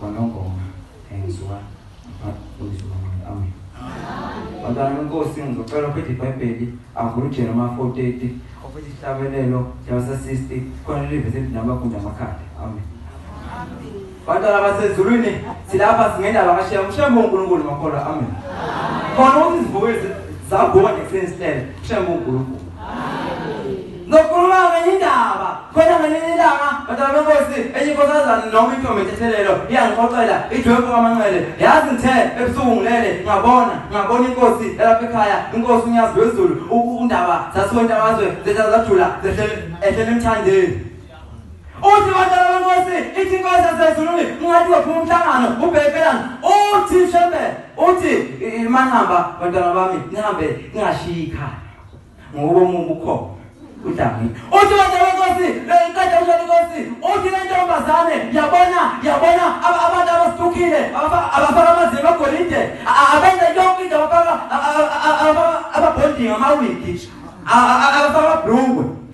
Kwanongoma enziwa uMfundisi Manqele. Amen. Bantwana uNkosi ngizocela uphethe iBhayibheli avule uJena ma 430 ofethe isihlabelelo Jabasa 60 khona live sethi nabafunda amakhanda. Amen. Bantwana basezulwini silapha singena la kashiya umshembe uNkulunkulu makholwa. Amen. Khona ukuthi izivukezi zabona ekuseni silele. Mshembe uNkulunkulu. Amen. Ngokukhuluma ngenye indaba khona ngelinye ilanga madala benkosi enye inkosazana noma intombi ethethelelo iyangixoxela idwebhu kamanxele yazi ngithe ebusuku ngilele ngabona ngabona inkosi elapha ekhaya inkosi unyazi lwezulu undaba zasuka intabazwe zethela zajula ehlele emthandeni uthi madala benkosi ithi inkosi yasezulwini ungathi waphuma umhlangano ubhekelani uthi shembe uthi manihamba bantwana bami nihambe ningashiyi ikhaya ngoba umubu ukhona udlamini uthi wena wenkosi ngiqeda usho inkosi uthi le ntombazane yabona yabona abantu abasithukile abafaka amazinga agolide abenza yonke into abafaka ababhondinga amawigi abafaka amabrungwe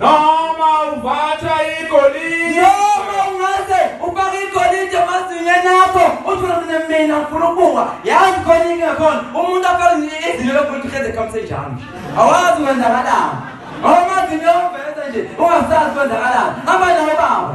Noma uvatha igolide. Noma ungase ufake igolide emazinyweni akho uthi mina mina ngifuna ukubukwa. Yazi khona inkinga khona umuntu afake izinyo lokuthi ukhede khamse njalo. Awazi kwenzakalani. Ngoba umazinyoni uveza nje ungasazi kwenzakalani. Hamba nawe baba.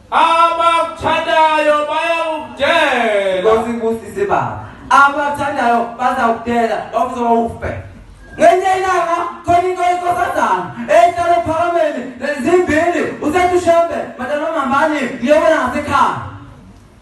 Abakuthandayo bayakudela. Nkosi ibusise baba. Abakuthandayo bazakudela bakuzoba ufe. Ngenye ilanga khona into yenkosazana ehlala ophakameni zimbili usethi ushembe madalomambani ngiyobona ngasekhaya